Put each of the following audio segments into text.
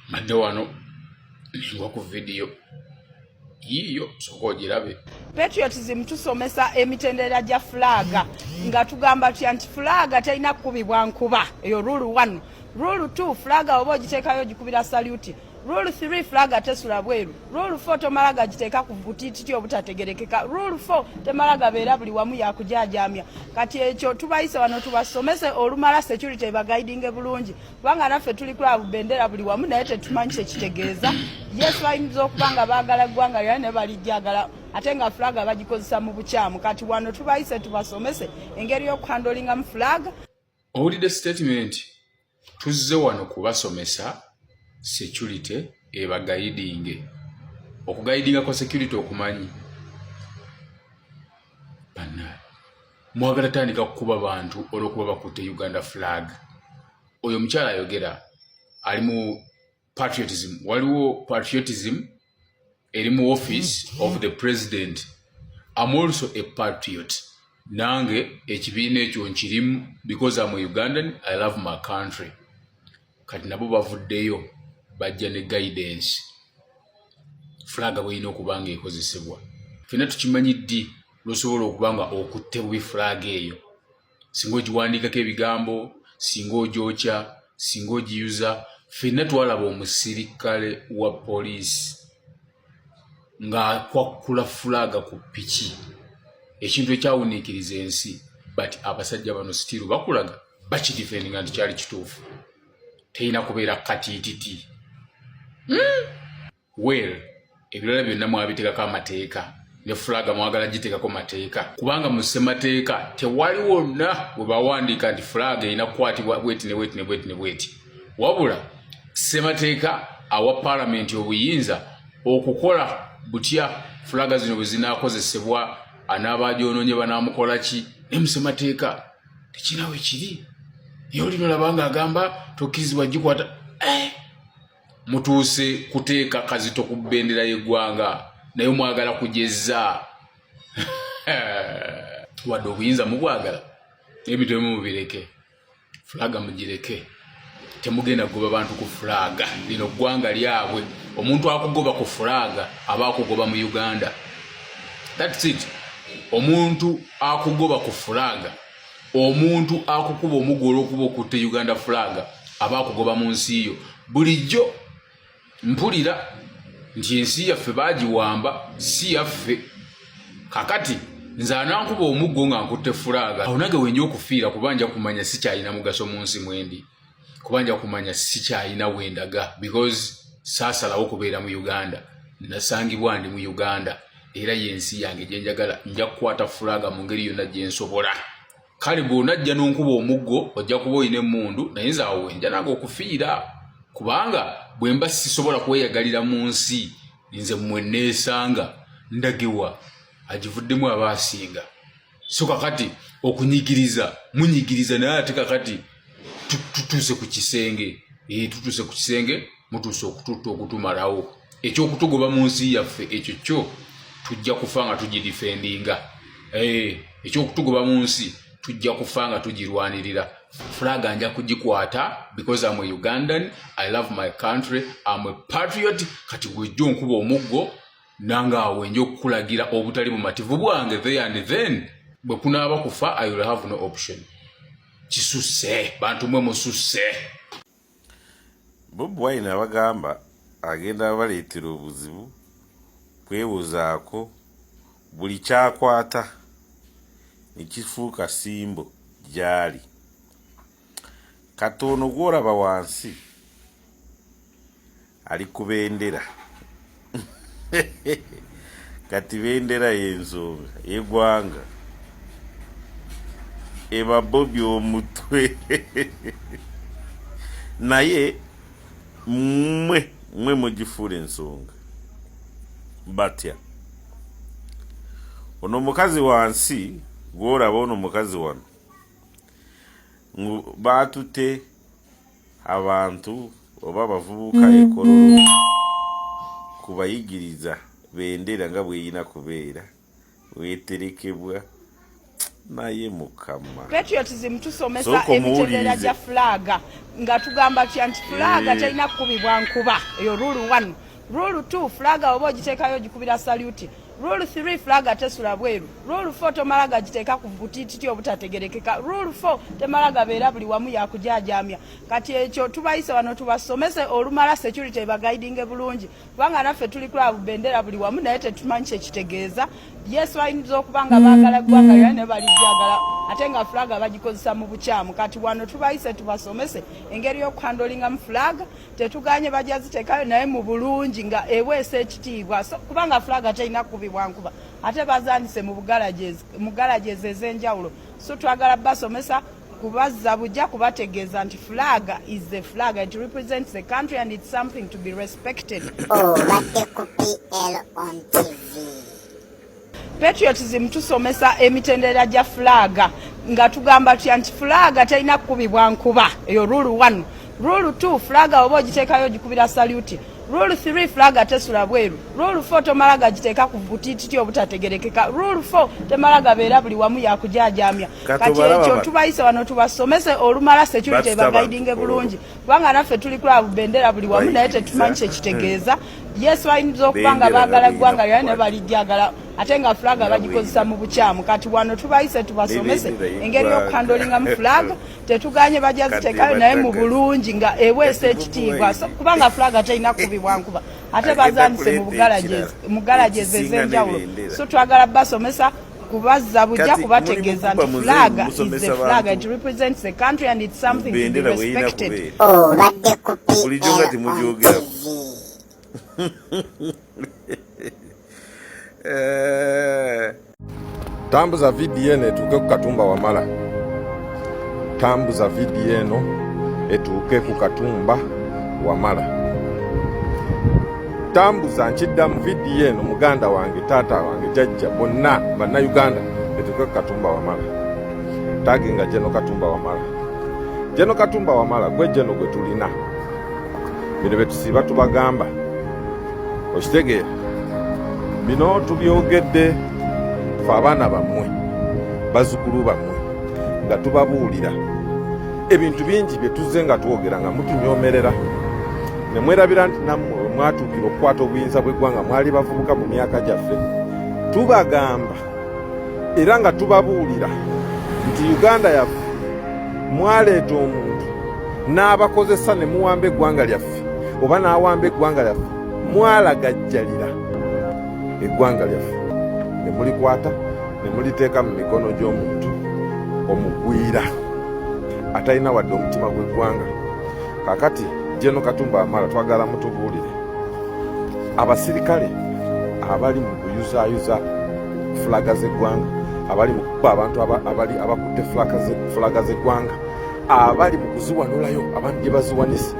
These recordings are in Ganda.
madde wano nengwa ku vidiyo yiiyo soka ogirabe patriotism tusomesa emitendera gya fulaaga nga tugamba tutya nti fulaaga terina kukubibwa nkuba eyo rule one rule two fulaaga oba ogiteekayo ogikubira saluti rule three fulaaga tesula bweru rule four tomala gagiteeka ku butititi obutategerekeka rule four temala gabeera buli wamu yakujaajamya kati ekyo tubayise wano tubasomese olumala security ebaguidinge bulungi kubanga naffe tuli kula bubendera buli wamu naye tetumanyi kyekitegeeza yes bayinza okuba nga baagala eggwanga lyona naye balijjagala ate nga fulaga bagikozesa mu bukyamu kati wano tubayise tubasomese engeri y'okuhandolingamu fulaga owulidde sitatimenti tuzze wano kubasomesa security ebagayidinge okugayidinga kwa security okumanyi mwagala tandika kukuba bantu olwokuba bakutte uganda flag oyo omukyala ayogera ali mu patriotism waliwo patriotism eri mu office of the president am also a patriot nange ekibiina ekyo nkirimu because am ugandan i love my country kati nabo bavuddeyo bajja ne guidance fulaga bweyina okuba nga ekozesebwa fena tukimanyi ddi lwosobola okuba nga okutte bubi fulaga eyo singa ogiwandiikako ebigambo singa ogyokya singa ogiyuza fenna twalaba omusirikale wa poliisi ng'akwakkula fulaaga ku piki ekintu ekyawuniikiriza ensi but abasajja bano sitiiru bakulaga bakidifendinga nti kyali kituufu terina kubeera katiititi hmm? well ebirala byonna mwabitekako amateeka ne fulaga mwagala giteekako mateeka kubanga mu ssemateeka tewali wonna we bawandiika nti fulaga erina kukwatibwa bweti ne bweti ne bweti ne bweti wabula ssemateeka awa palamenti obuyinza okukola butya fulaga zino bwe zinaakozesebwa anaaba agyonoonye banaamukola ki ne mu ssemateeka tekirina we kiri naye olino olaba nga agamba tokkirizibwa gikwata eh! mutuuse kuteeka kazito ku bendera y'eggwanga naye mwagala kujezza wadde obuyinza mubwagala ebintu ebimu mubireke fulaga mugireke temugenda kugoba bantu ku fulaga lino ggwanga lyabwe omuntu akugoba ku fulaga aba akugoba mu uganda thats it omuntu akugoba ku fulaga omuntu akukuba omugo olwokuba okutte uganda flag aba akugoba mu nsi yo bulijjo mpulira nti ensi yaffe bagiwamba si yaffe kakati nze anankuba omuggo nga nkutte fulaaga awo nage wenja okufiira kuba nja kumanya sikyalina mugaso mu nsi mwendi kuba nja kumanya sikyalina wendaga because saasalawo kubeera mu uganda nasangibwa ndi mu uganda era yensi yange gyenjagala nja kukwata fulaga mu ngeri yonna gyensobola kale bwonajja nonkuba omuggo ojja kuba olina emundu naye nze awo wenja nange okufiira kubanga bwemba sisobola kweyagalira mu nsi nze mweneesanga ndagiwa agivuddemu aba asinga so kakati okunyigiriza munyigiriza naye ate kakati tutuuse ku kisenge eh, tutuuse ku kisenge mutuuse okututta okutumalawo ekyokutugoba mu nsi yaffe ekyo kyo tujja kufa nga tugidifendinga eh, ekyokutugoba mu nsi tujja kufa nga tugirwanirira flag anja kugikwata because am a ugandan i love my country am a patriot kati gwejja onkuba omuggo nange awo enja okukulagira obutali bumativu bwange there and then bwe kunaaba kufa i will have no option kisusse bantu mwe mususse bobi wine abagamba agenda baleetera obuzibu kwewozaako buli kyakwata nekifuuka simbo gyali katono gwolaba wansi ali ku bendera kati bendera yensonga yegwanga eba bobi omutwe naye mwe mwe mugifuula ensonga batya ono mukazi wansi gworaba ono mukazi wano batute abantu oba abavubuka ekololo kubayigiriza bendera nga bweyina kubeera weterekebwa naye mukama patriotism tusomesa emitendera gya fulaga nga tugamba tya nti fulaga eh. terina kukubibwa nkuba eyo rule one rule two fulaga oba ogiteekayo ogikubira saluti Rule 3 flag atesula bweru. Rule 4 tomala gagiteeka ku butititi obutategerekeka. Rule 4 temala gabeera buli wamu yakujaajamya. Kati ekyo tubayise wano tubasomese olumala security ebagaidinge bulungi kubanga naffe tuli kulabu bendera buli wamu naye tetumanyi kyekitegeeza. Yesu bayinza okuba nga baagala eggwanga lyona ne balijagala ate nga flag bagikozesa mu bukyamu. Kati wano tubayise tubasomese engeri y'okuhandolingamu flag tetuganye bajja ziteekayo naye mu bulungi nga eweesa ekitiibwa kubanga fulaga terina kukubibwa nkuba ate bazandise mu galaji ezo ez'enjawulo so twagala basomesa kubazza bujja kubategeeza nti fulaga is the flag it represents the country and it's something to be respected obadde oh, ku pl on tv patriotism tusomesa emitendera gya fulaaga nga tugamba tutya nti fulaaga terina kukubibwa nkuba eyo rule 1 rule 2 fulaaga oba ogiteekayo ogikubira saluti rule 3 fulaaga tesula bweru rule 4 tomala gagiteeka ku butititi obutategerekeka rule 4 temala gabeera buli wamu yakujajamya kati ekyo tubayise wano tubasomese olumala security ebagaidinge bulungi kubanga naffe tuli kulabu bendera buli wamu naye tetumanyi kyekitegeeza Yes, bayinza okuba nga baagala ggwanga lyona naye balijjagala ate nga fulaga bagikozesa mu bukyamu kati wano tubayise tubasomese engeri y'okukandolingamu fulaga tetuganye bajaziteekayo naye mu bulungi nga eweesa ekitiibwa kubanga fulaga terina kubibwa nkuba ate bazandise mu galagi ezo ez'enjawulo so twagala basomesa kubazza bujja kubategeeza nti flag is a flag it represents the country and it's something to be respected obadde ku PLOTV eh. tambuza vidiyo eno etuuke ku katumba wamala tambuza vidiyo eno etuuke ku katumba wamala tambuza nkidda mu vidiyo eno muganda wange taata wange jajja bonna bannayuganda etuke ku katumba wamala tagi nga jeno katumba wamala jeno katumba wamala gwe jeno gwe tulina bino betusiiba tubagamba okitegeera bino tubyogedde fe abaana bammwe bazukulu bammwe nga tubabuulira ebintu bingi bye tuzze nga twogera nga mutunyomerera ne mwerabira nti nammwe we mwatuukira okukwata obuyinza bw'eggwanga mwali bavubuka mu myaka gyaffe tubagamba era nga tubabuulira nti uganda yaffe mwaleeta omuntu n'abakozesa ne muwamba eggwanga lyaffe oba n'awamba eggwanga lyaffe mwalagajjalira eggwanga lyaffe ne mulikwata ne muliteeka mu mikono gy'omuntu omugwira atalina wadde omutima gw'eggwanga kakati jeno katumba amala twagala mutubuulire abasirikale abali mu kuyuzayuza fulaga z'eggwanga abali mu kukuba abantu abali abakutte fulaga z'eggwanga abali mu kuziwanulayo abantu gye baziwanise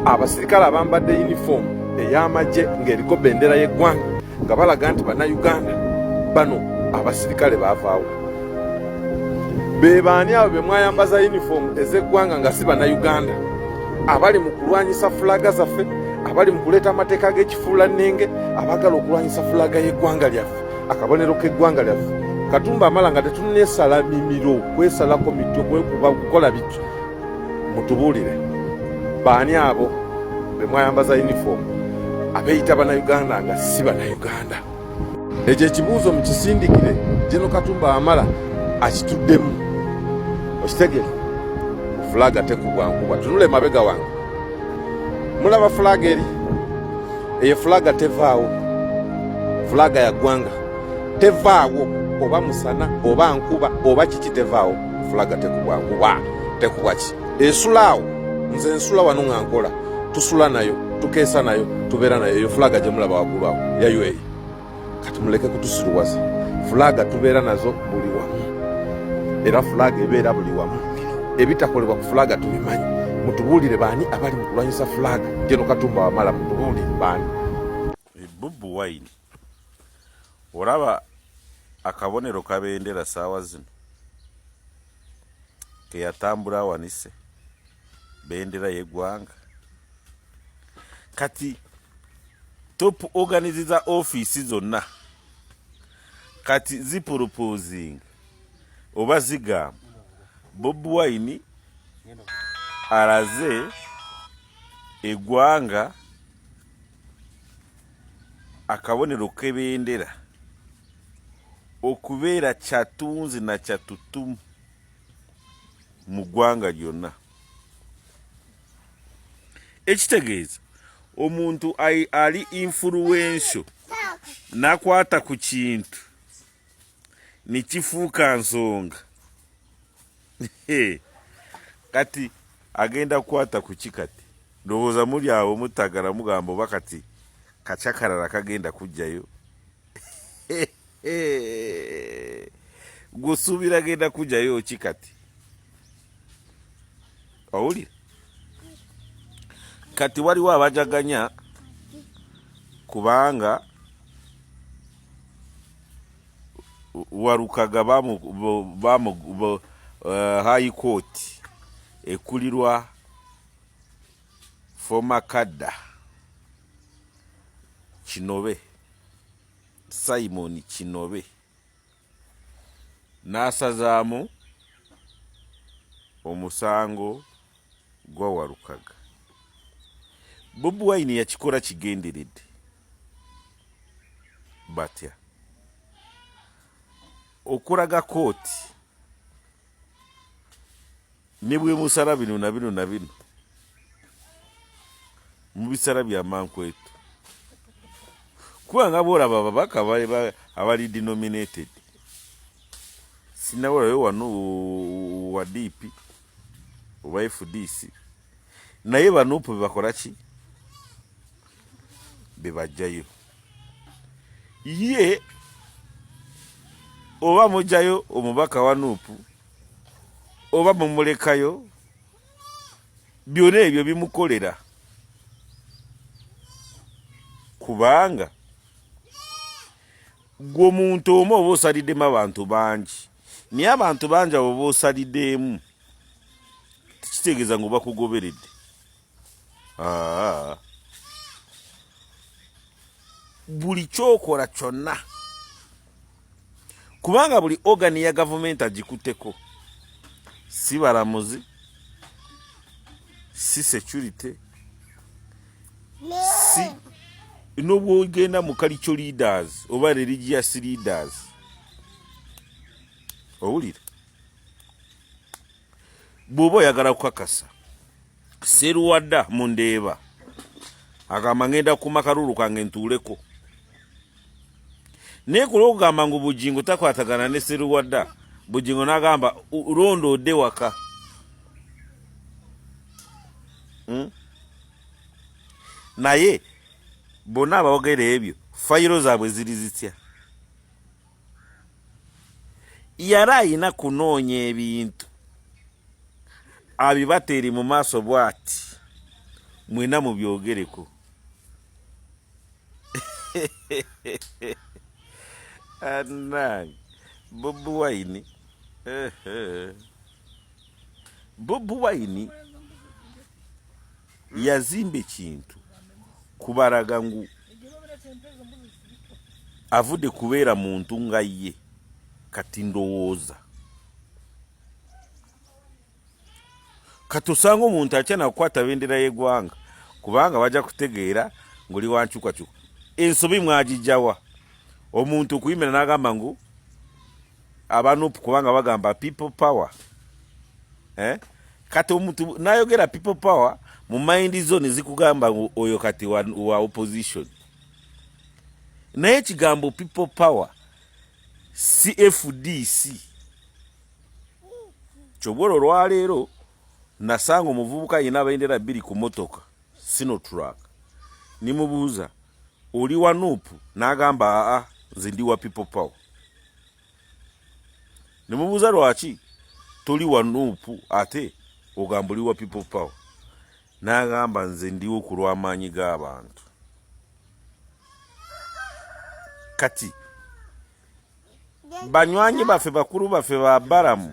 abasirikale abambadde yunifoomu ey'amagye ng'eriko bendera y'eggwanga nga balaga nti bannayuganda bano abasirikale baavaawo be baani abo be mwayambaza yunifoomu ez'eggwanga nga si bannayuganda abali mu kulwanyisa fulaga zaffe abali mu kuleeta amateeka g'ekifuulannenge abaagala okulwanyisa fulaga y'eggwanga lyaffe akabonero k'eggwanga lyaffe katumba amala nga tetunesala mimiro kwesalako mitwe kwekuba kukola bityo Mutubuulire baani abo be mwayambaza yunifoomu abeeyita Bannayuganda nga si Bannayuganda? Ekyo ekibuuzo mukisindikire Jeno Katumba Wamala akituddemu. Okitegere fulaga tekugwankuba tunule mabega wange mulaba fulaga eri eyo fulaga tevaawo fulaga ya ggwanga tevaawo oba musana oba nkuba oba kiki tevaawo fulaga tekubwa kuba tekubwa ki esulaawo nze nsula wano nga nkola tusula nayo tukeesa nayo tubeera nayo eyo fulaga gyemulaba waggulu awo yayo eyo kati muleke kutusiruwaza fulaga tubeera nazo buli wamu era fulaga ebeera buli wamu ebitakolebwa ku fulaga tubimanyi mutubuulire baani abali mu kulwanyisa fulaga geno katumba wamala mutubuulire baani bobi wine olaba akabonero kabendera saawa zino keyatambula awanise bendera yegwanga kati top organize za office zonna kati zipropozing oba zigamba bob wine alaze egwanga akabonero k'ebendera okubeera kyatunzi na kyatutumu mu ggwanga lyonna ekitegeeza omuntu ali influensio nakwata ku kintu nekifuuka nsonga kati agenda kukwata kuki kati ndowooza muli awo mutagala mugamba oba kati kacakarala kagenda kujjayo gusuubira agenda kujjayo ki kati owuli kati waliwo abajaganya kubanga warukaga bamu bamu uh, eh, high court ekulirwa foma kadda kinobe simon kinobe n'asazaamu omusango gwa walukaga bobi wine yakikola kigenderedde batya okulaga kooti ne bwemusala bino na bino na bino mu bisala bya mankwetu kubanga bwolaba ababaka abali denominated sinabulayo wano wa dipi oba fdc naye banupu bebakola ki bebajjayo ye oba mujjayo omubaka wa nupu oba mumulekayo byona ebyo bimukolera kubanga gwe omuntu omu oba osalidemu abantu bangi naye abantu bangi abo bosalideemu tekitegeeza nga obakugoberedde buli kyokola kyonna kubanga buli ogani ya gavumenti agikuteko si balamuzi si security si nobwogenda mu kalico leaders oba religious leaders owulira bw'oba oyagala kukakasa seruwada mu ndeeba agamba ngenda kuma kalulu kange ntuuleko naye ku lwokugamba ngu bugingo takwatagana ne seruwada bugingo nagamba londa ode waka hmm? naye bonna abawogera ebyo fayiro zaabwe ziri zitya yali alina kunoonya ebintu abibateeri mu maaso bwati mwena mubyogereko anange bobi wine bobi wine yazimba ekintu kubaraga ngu avude kubeera muntu nga ye kati ndowooza kati osanga omuntu atya nakukwata bendera yegwanga kubanga bajja kutegeera ngoli wankyukakyuka ensobi mwagijawa omuntu okuyimira nagamba ngu abanupu kubanga bagamba people power eh? kati omuntu nayogera people power mu mind zone zikugamba oyo kati wa, wa opposition naye ekigambo people power cfdc kyobwola olwaleero nasanga omuvubuka yina abendera bbiri ku motoka Sinotruck nimubuuza oli wa nup n'agamba aa nze ndi wa people power nemubuuza lwaki toli wa nup ate ogamba oli wa people power n'agamba nze ndiwo ku lw'amaanyi g'abantu kati banywanyi baffe bakulu baffe ba balamu